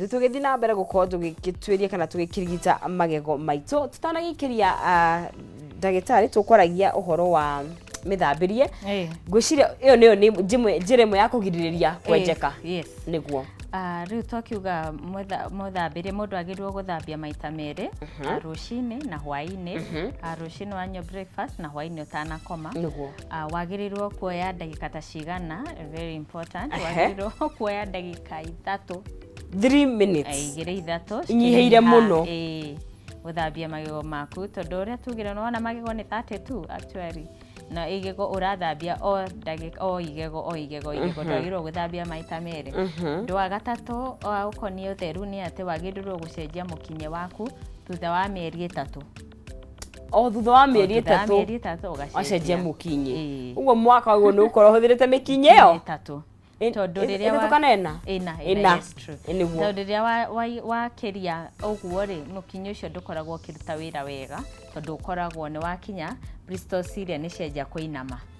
tũgĩthiĩ na mbere gũkorwo tũgĩtuĩria kana tũgĩkĩrigita magego maitũ tũtanagĩikĩria ah, ndagĩtarĩ tũkwaragia ũhoro wa mĩthambĩrie Eh. ngwĩciria ĩyo nĩyo nĩ njĩmwe- njĩra ĩmwe ya kũgirĩrĩria kwenjeka Eh, yes. nĩguo Ah, rĩu twakiuga mwetha- mwethambĩrie mũndũ agĩrĩirwo gũthambia maita merĩ ah, rũcinĩ na hwainĩ Ah, rũcinĩ wanyua breakfast na hwainĩ ũtanakoma nĩguo Ah, wagĩrĩirwo kuoya ndagĩka ta cigana very important Ehe. wagĩrĩirwo kuoya ndagĩka ithatũ 3 minutes eh, igĩrĩ ithatũ Inyihĩire cikĩnyiha, mũno. eh, gũthambia magego maku tondũ ũrĩa tugire nona magego nĩ 32 actually na igego ũrathambia o ndagĩka o igego o igego igego ndwagĩrĩirwo gũthambia maita merĩ ũndũ wa gatatũ wa ũkoniĩ ũtheru nĩ atĩ wagĩrĩirwo gũcenjia mũkinyĩ waku thutha wa mĩeri ĩtatũ o thutha wa mĩeri Thutha wa ĩtatũ mĩeri ĩtatũ ũgacenjia wacenjia mũkinyĩ Ĩĩ. ũguo mwaka ũguo nĩ ũkorwo ũhũthĩrĩte mĩkinyĩ ĩyo ĩtatũ Ĩ- tondũ ĩ- rĩrĩa wa- ĩtatũkana ĩna? ĩna Ĩna. ĩna yes, true. Ĩ nĩguo. tondũ rĩrĩa wa- wa- wakĩria ũguo rĩ mũkinyĩ ũcio ndũkoragwo ũkĩruta wĩra wega tondũ ũkoragwo nĩ wakinya bristol ciria nĩ cianjia kũinama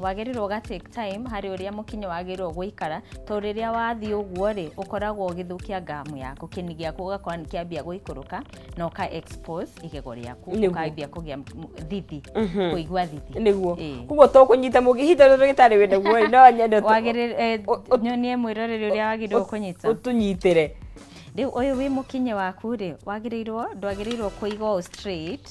wagĩrĩirwo ga take time harĩ ũrĩa mũkinyĩ wagĩrĩirwo gũikara to rĩrĩa wathiĩ ũguo rĩ ũkoragwo ũgĩthũkia gamu yaku kĩni gĩaku ũgakora nĩ kĩambia gũikũrũka na ũka expose igego rĩaku Nĩguo. ũkambia kũgĩa m- thithi kũigua thithi nĩguo Ĩĩ. koguo to kũnyita mũgĩ ihinda rĩrĩ rĩtarĩ wĩ naguo rĩ, no nyende ũtũ- wagĩrĩrwo eh, ũ- ũ- nyonie mwĩroreri ũrĩa wagĩrĩirwo kũnyita ũtũnyitĩre rĩu ũyũ wĩ mũkinyĩ waku rĩ wagĩrĩirwo ndwagĩrĩirwo kũiga ũũ straight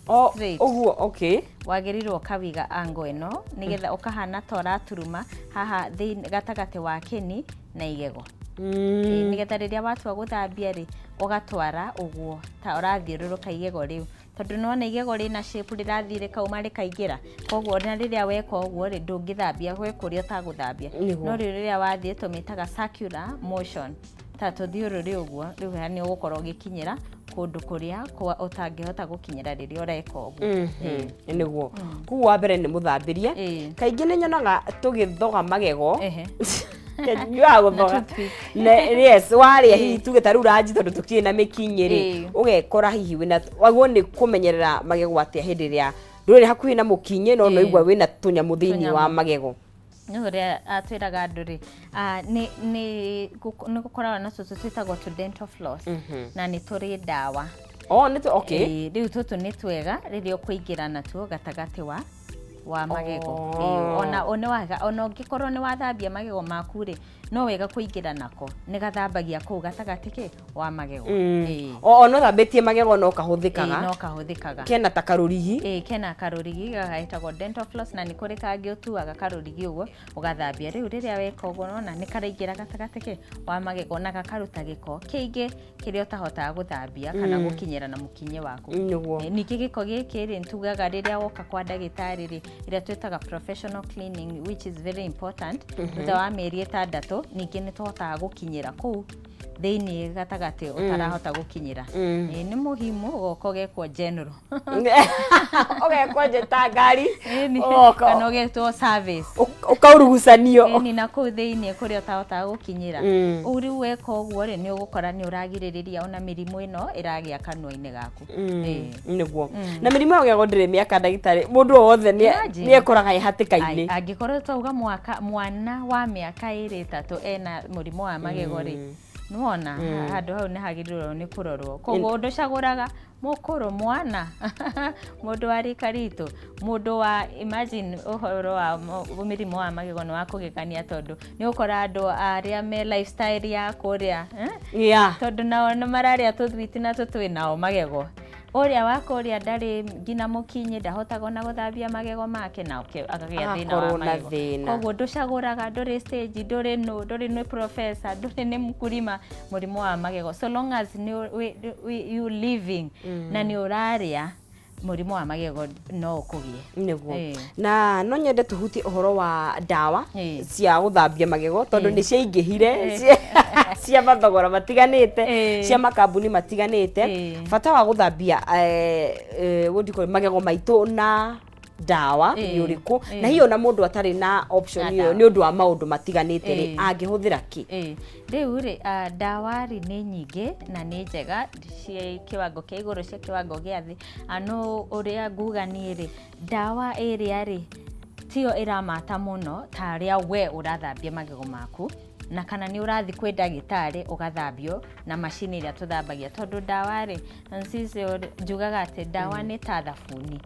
Oh, straight. Ũguo, okay. Wagĩrĩirwo ũkawiga ango ĩno nĩgetha ũkahana ta ũraturuma haha thĩinĩ gatagatĩ wa kĩni na igego. Mm. Nĩgetha rĩrĩa watua gũthambia rĩ, ũgatwara ũguo ta ũrathiũrũrũka igego rĩu. Tondũ nĩwona igego rĩna shape rĩrathiĩ rĩkauma rĩkaingĩra. Koguo ona rĩrĩa weka ũguo rĩ, ndũngĩthambia gwĩ kũrĩa ũtagũthambia. Nĩguo. No rĩu rĩrĩa wathiĩ tũmĩtaga circular motion. ta tũthiũrũrĩ ũguo rĩu nĩ ũgũkorwo ũgĩkinyĩra kũndũ kũrĩa kwa ũtangĩhota gũkinyĩra rĩrĩa ũreka ũguo Mhm, nĩguo kuu wa mbere nĩ mũthambĩrie Ĩĩ. kaingĩ nĩ nyonaga tũgĩthoga magego Ehe. nyuaga gũthoga toothpick. Na- yes warĩa hihi tuge ta rĩu ranji tondũ tũkirĩ na mĩkinyĩ rĩ Ĩĩ. ũgekora hihi wĩna wagwo nĩ kũmenyerera magego atĩa hĩndĩ ĩrĩa ndũrĩ hakuhĩ na mũkinyĩ no Ĩĩ. noigua wĩna tũnyamũ thĩinĩ wa Tũnyamũ. magego Niĩ ũrĩa twĩraga andũ rĩ, nĩ gũkoragwo na tũtũ twĩtagwo tũ dental floss na nĩ tũrĩ ndawa. Oh, nĩ tũ, okay. Ĩĩ, rĩu tũtũ nĩ twega rĩrĩa ũkũingĩra natuo gatagatĩ wa wa magego. Ĩĩ, ona ona ũngĩkorwo nĩ wathambia magego maku rĩ, no wega kũingĩra nako nĩ gathambagia kũu gatagatĩ kĩ wa magego mm. Ĩĩ. o ona ũthambĩtie magego no Ĩĩ, kahũthĩkaga no kahũthĩkaga kena ta karũrigi Ĩĩ, kena karũrigi gagetagwo dental floss na nĩ kũrĩ kangĩ ũtuaga karũrigi ũguo ũgathambia rĩu rĩrĩa weka ũguo nona nĩ karaingĩra gatagatĩ kĩ wa magego na gakaruta gĩko kĩingĩ kĩrĩa ũtahotaga gũthambia kana mm. gũkinyĩra na mũkinye waku eh, ningĩ gĩko gĩkĩ rĩ tugaga rĩrĩa woka kwa ndagĩtarĩ rĩ ĩrĩa twĩtaga professional cleaning which is very important mhm. thutha wa mĩeri ĩtandatũ ningĩ nĩ tũhotaga gũkinyĩra kũu thĩinĩ gatagatĩ mm. ũtarahota gũkinyĩra mm. eh, nĩ mũhimu goko gekwo general ũgekwo njĩta ngari ũgoka kana ũgetwo service ũk- ũkaurugucanio ĩni na kũu thĩinĩ kũrĩa ũtahotaga gũkinyĩra Mm. ũu rĩu weka ũguo rĩ nĩ ũgũkora nĩ ũragirĩrĩria ona mĩrimũ ĩno ĩragĩa kanua-inĩ gaku Ĩĩ. nĩguo na mĩrimũ ĩyo ũgĩagwo ndĩrĩ mĩaka ndagĩtarĩ mũndũ o wothe nĩ- Imagine. nĩ ekũraga e Ai, hatĩka-inĩ angĩkorwo twauga mwaka mwana wa mĩaka ĩrĩ ĩtatũ ena mũrimũ wa magego rĩ nĩwona handũ hau nĩ hagĩrĩirwo nĩ kũrorwo koguo ndũcagũraga mũkũrũ mwana mũndũ wa rika ritũ mũndũ wa imagine ũhoro wa mo- mĩrimũ wa magego nĩ wa kũgegania tondũ nĩ ũkora andũ arĩa me lifestyle ya kũrĩa eh? yeah. tondũ nao nĩ mararĩa tũthwiti na tũtwĩ nao magego ũrĩa wa kũrĩa ndarĩ nginya mũkinyĩ ndahotaga ona gũthambia magego make na ũke- akagĩa thĩna Akorwo wa na magego thĩna. koguo ndũcagũraga ndũrĩ stage ndũrĩ nũ ndũrĩ nĩ professor ndũrĩ nĩ mkulima mũrimũ wa magego so long as nĩ ũ- wĩ- wĩ- you living na nĩ ũrarĩa mũrimũ wa magego no ũkũgĩe nĩguo Eh. na no nyende tũhutie ũhoro wa ndawa Eh. cia gũthambia magego tondũ Eh. nĩ ciaingĩhire cia- cia mathogora matiganĩte Eh. cia makambuni matiganĩte Eh. bata wa gũthambia eh, eh, what do you call it, magego maitũ na ndawa Ĩĩ, nĩ ũrĩkũ ĩĩ. na hiyo na mũndũ atarĩ na Na option ĩyo ndawa. nĩ ũndũ wa maũndũ matiganĩte rĩ Ĩĩ. angĩhũthĩra kĩ Ĩĩ, rĩu rĩ ah, ndawa rĩ nĩ nyingĩ na nĩ njega ciĩ kĩwango kĩa igũrũ cia kĩwango gĩa thĩ Ah, no ũrĩa nguga niĩ rĩ ndawa ĩrĩa rĩ tiyo ĩramata mũno ta rĩa we ũrathambia magego maku na kana nĩ ũrathiĩ kwĩ ndagĩtarĩ ũgathambio na macini ĩrĩa tũthambagia tondũ ndawa rĩ njugaga atĩ ndawa mm. nĩ ta thabuni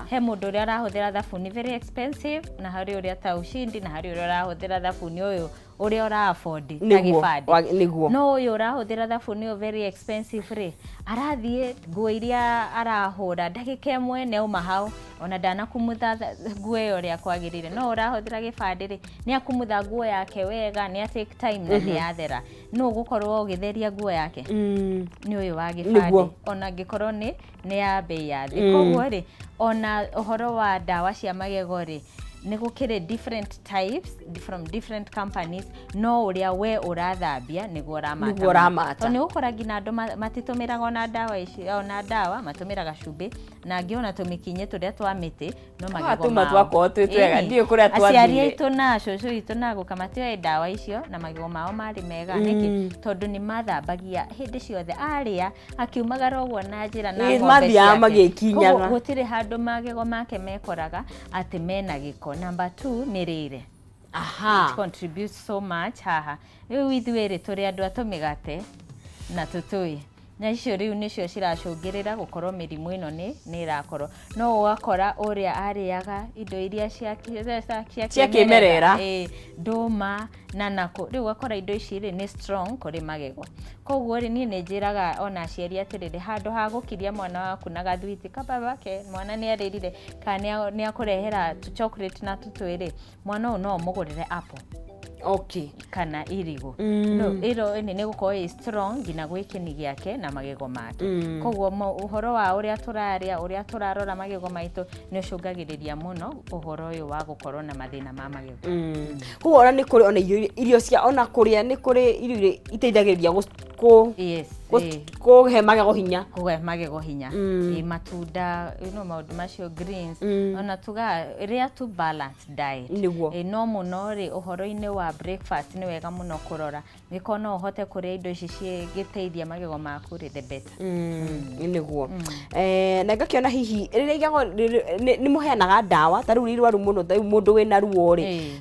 he mũndũ ũrĩa arahũthĩra thabuni very expensive na harĩ ũrĩa ta ushindi na harĩ ũrĩa ũrahũthĩra thabuni ũyũ ũrĩa ũrabondi na gĩbandi no ũyũ ũrahũthĩra thabuni ũyũ very expensive rĩ arathiĩ nguo iria arahũra ndagĩka ĩmwe nĩ auma hau ona ndanakumutha th- nguo ĩyo ũrĩa kwagĩrĩire no ũrahũthĩra gĩbandĩ rĩ nĩ akumutha nguo yake wega nĩ a take time na nĩ yathera nũ ũgũkorwo ũgĩtheria nguo yake Mm. nĩ ũyũ wa gĩbandĩ Nĩguo. ona angĩkorwo nĩ nĩ ya mbei ya thĩ Mm. koguo rĩ ona ũhoro wa ndawa cia magego rĩ nĩ gũkĩrĩ different types from different companies no ũrĩa we ũrathambia nĩguo ũramata Nĩguo ũramata. Tondũ nĩ ũgũkora nginya andũ ma- matitũmĩraga ona ndawa ici ona ndawa matũmĩraga cumbĩ na angĩ ona tũmĩkinyĩ tũrĩa twa mĩtĩ no magego tũma mao. twakorwo twĩ twega Ĩĩ. ndiũĩ kũrĩa aciari twathire aitũ na cũcũ aitũ na gũka matioe ndawa icio na magego mao marĩ mega nĩkĩ tondũ nĩ mathambagia hĩndĩ ciothe arĩa akiumagara ũguo na njĩra na Ĩĩ, ng'ombe mathiaga ciake. magĩkinyaga. Koguo gũtirĩ handũ magego make mekoraga atĩ mena gĩko number two mĩrĩre aha It contributes so much haha rĩu ithuĩ rĩ tũrĩ andũ a tũmĩgate na tũtũĩ Na icio rĩu nĩcio ciracũngĩrĩra gũkorwo mĩrimũ ĩno nĩ nĩ ĩrakorwo. No ũgakora ũrĩa arĩaga indo iria cia kĩ- cia- cia- cia Cia kĩmerera. kĩmerera. Ĩĩ, ndũma na nakũ rĩu ũgakora indo ici rĩ nĩ strong kũrĩ magego koguo rĩ niĩ nĩ njĩraga ona aciari atĩrĩrĩ handũ ha gũkiria mwana waku na gathwiti kababa ke mwana nĩ arĩrire kana nĩ a- nĩ akũrehera tũ chocolate na tũtwĩ rĩ mwana ũyũ no ũmũgũrĩre apple okay kana irigũ Mm. no ĩro ĩnĩ nĩ gũkorwo ĩ strong nginya gwĩ kĩni gĩake na magego make Mm. koguo mo- ũhoro wa ũrĩa tũrarĩa ũrĩa tũrarora magego maitũ nĩ ũcũngagĩrĩria mũno ũhoro ũyũ wa gũkorwo na mathĩna ma magego koguo ona nĩ kũrĩ ona irio irio cia ona kũrĩa nĩ kũrĩ irio iria iteithagĩrĩria gũ- kå yes eh, kå he magego hinya kũhe magego hinya Mm. Eh, matunda you know, maũndũ macio greens Mm. ona tuga rĩa tu balanced diet Nĩguo. Eh, no mũno rĩ ũhoro-inĩ wa breakfast nĩ wega mũno kũrora nĩko no ũhote kũrĩa indo ici cingĩteithia magego maku rĩ the better nä guo na ngakiona hihi rä rä igego nä må heanaga ndawa ta rä u rä rwaru må no ta rä u må ndå wä na ruo rä Eh.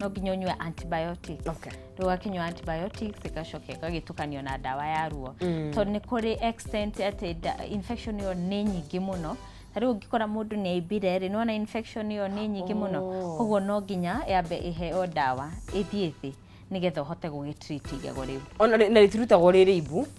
no nginya ũnyue antibiotics Okay. rĩu wakinyua antibiotics ĩgacoka ĩgagĩtukanio na ndawa ya ruo Mm. tondũ nĩ kũrĩ extent atĩ nda- infection ĩyo nĩ nyingĩ mũno ta rĩu ũngĩkora mũndũ nĩ aimbire rĩ nĩwona infection ĩyo nĩ nyingĩ mũno Oh. koguo no nginya yambe ĩheo ndawa ĩthiĩ thĩ nĩgetha ũhote gũgĩtreat igego rĩu ona rĩ- na rĩtirutagwo rĩrĩ ibu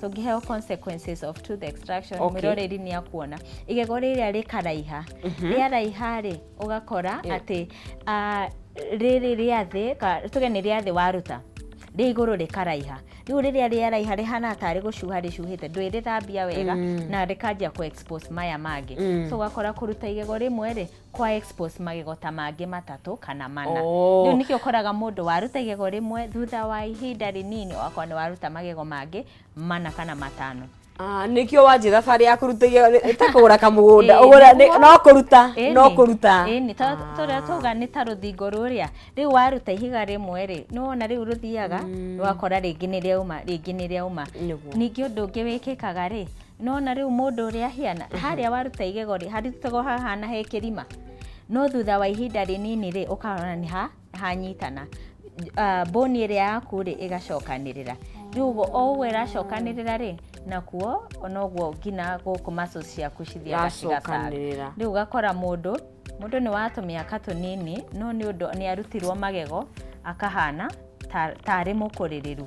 tũngĩheo consequences of tooth extraction Okay. mwĩroreri nĩ akuona igego rĩrĩa rĩkaraiha rĩaraiha rĩ ũgakora Yeah. atĩ ah, rĩrĩ rĩa thĩ ka- tuge nĩ rĩa thĩ waruta rĩa igũrũ rĩkaraiha rĩu rĩrĩa rĩaraiha rĩhana tarĩ gũcuha rĩcuhĩte ndwĩ rĩthambia wega na rĩkanjia kũ expose maya mangĩ so ũgakora kũruta igego rĩmwe rĩ kwa expose magego ta mangĩ matatũ kana mana oh. rĩu nĩkĩo ũkoraga mũndũ waruta igego rĩmwe thutha wa ihinda rĩnini wakwa nĩ waruta magego mangĩ mana kana matano Ah, nĩkĩo wanjĩra barĩ ya kũruta ta kũgũra kamũgũnda no kũruta no kũruta tũrĩa tuga nĩ ta rũthingo rũrĩa rĩu waruta ihiga rĩmwe rĩ nĩ wona rĩu rũthiaga mm. rwakora rĩngĩ nĩ rĩauma rĩngĩ nĩ rĩauma ningĩ ũndũ ũngĩ wĩkĩkaga rĩ Nĩwona rĩu mũndũ ũrĩa ahiana? Harĩa waruta igego rĩ, harutagwo hahana he kĩrima. No thutha wa ihinda rĩnini rĩ, ũkona nĩ ha, hanyitana. Ah, bone ĩrĩa yaku rĩ, ĩgacokanĩrĩra. Rĩu ũguo, o ũguo ĩracokanĩrĩra rĩ, nakuo, ona ũguo nginya gũkũ muscles ciaku cithiaga cigacanga. Iracokanĩrĩra. Rĩu ũgakora mũndũ, mũndũ nĩ wa tũmĩaka tũnini, no nĩ ũndũ nĩ arutirwo magego, akahana ta, ta arĩ mũkũrĩrĩru.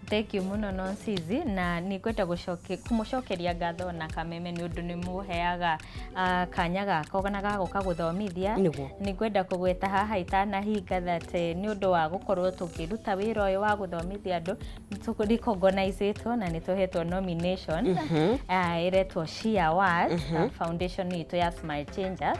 Thengiũ mũno Nonsizi, na nĩ ngwenda gũcoke- kũmũcokeria ngatho o na Kameme nĩ ũndũ nĩ mũheaga ah, kanya gaka o na ga gũka gũthomithia. Nĩguo. Nĩ ngwenda kũgweta haha itanahinga that eh, nĩ ũndũ wa gũkorwo tũkĩruta wĩra ũyũ wa gũthomithia andũ, nĩ tũ- recognize-ĩtwo na nĩ tũhetwo nomination ah, ĩretwo She Awards, ah, foundation itũ ya Smile Changers.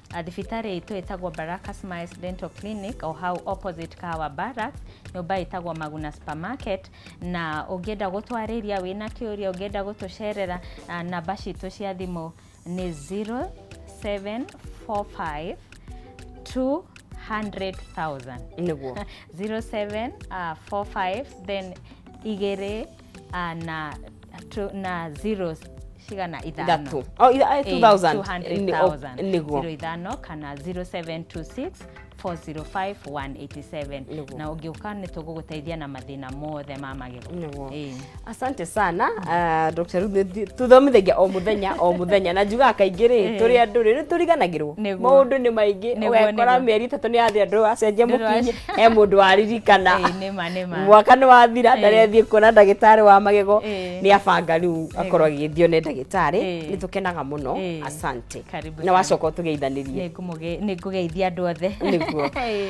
Thibitarĩ itũ ĩtagwo Baraka Smiles Dental Clinic o hau opposite Kahawa Barracks, nyũmba ĩtagwo Maguna Supermarket, na ũngĩenda gũtwarĩria wĩna kĩũria, ũngĩenda gũtũcerera, namba citũ cia thimũ nĩ 0745 200 thousand. Nĩguo. 0745 then igĩrĩ. ah, na tu- na zero cigana ithano Ithatũ. Oh, itha- eh, 2000. Nĩ- oh, 200,000. nĩguo. Zero ithano kana 0726 405 187 Nĩguo. na ũngĩũka nĩ tũgũgũteithia na mathĩna mothe ma magego Nĩguo. Ĩĩ. asante sana uh, dr Ruth, nĩ- tũthomithagia o mũthenya o mũthenya na njugaga kaingĩ rĩ Eh. tũrĩ andũ rĩ nĩ tũriganagĩrwo Nĩguo. maũndũ nĩ maingĩ Nĩguo, ũgekora nĩguo. mĩeri itatũ nĩ yathĩ andũ acenjia Ndĩrwa- mũkinyi he mũndũ waririkana Ĩĩ, nĩ Nĩma, nĩma. mwaka nĩ wathira Eh. ndarethiĩ kuona ndagĩtarĩ wa magego Eh. nĩ abanga rĩu akorwo agĩthiĩ one ndagĩtarĩ Eh. nĩ tũkenaga mũno Eh. asante Karibu na sana. wacoka ũtũgeithanĩrie Nĩngũmũge- nĩngũgeithia andũ othe Nĩguo. Hey.